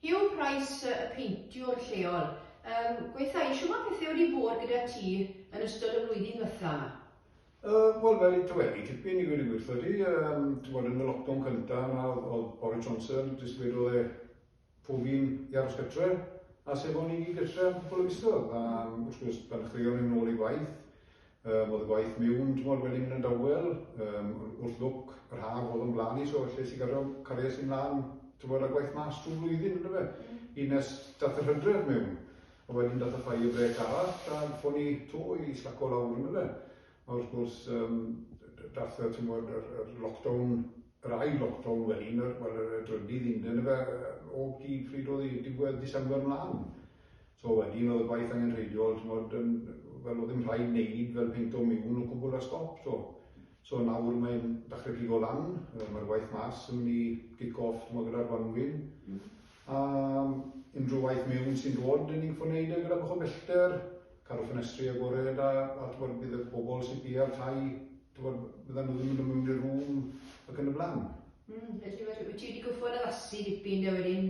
Hugh Price, y peintiwr lleol. Yym, gweitha i, shwma pethe wedi bod gyda ti yn ystod y flwyddyn dwetha 'ma? Yym, wel, mae 'di tawedu tipyn i wedi gwirtho di. Yym, t'mod yn y lockdown cynta 'ma o'dd o'dd Boris Johnson jyst wedodd e pob un i aros gytre, a sef o'n i gyd gytre am cwpwl o fisoedd, a wrth gwrs pan dechreuon ni nôl i waith, Yym, oedd y gwaith miwn t'mod wedyn yn y dawel, yym, wrth lwc, yr haf oedd o'n blaen i so lle es i gario cariad i mlan t'mod a gwaith mas trwy flwyddyn on'd yfe? Hyd nes dath yr hydref miwn, a wedyn dath y fire break arall a fo ni 'to i slaco lawr on'd yfe? A wrth gwrs yym dath y t'mod yr yr lockdown, yr ail lockdown wedyn yr wel yr y drydydd un on'd yfe? Yy o gyd pryd oedd 'i? Diwedd December mlan. So wedyn oedd y gwaith angenrheidiol, ch'mod, yn, wel, oedd ddim rhaid wneud fel peinto miwn o gwbl a stop, so. So nawr mae'n dachre pigo lan, mae'r waith mas yn mynd i kick-off, ch'mod, gyda'r gwanwyn. Mm. A unrhyw waith miwn sy'n dod, dyn ni'n ffwrneud e gyda bach o bellter, cadw ffenestri agored a, a ch'mod, bydd y bobl sy'n pia'r tai, ch'mod, byddan nhw ddim yn dod mewn i'r rŵm ac yn y blaen. Mm, felly wyt ti wedi gorfod addasu dipyn de wedyn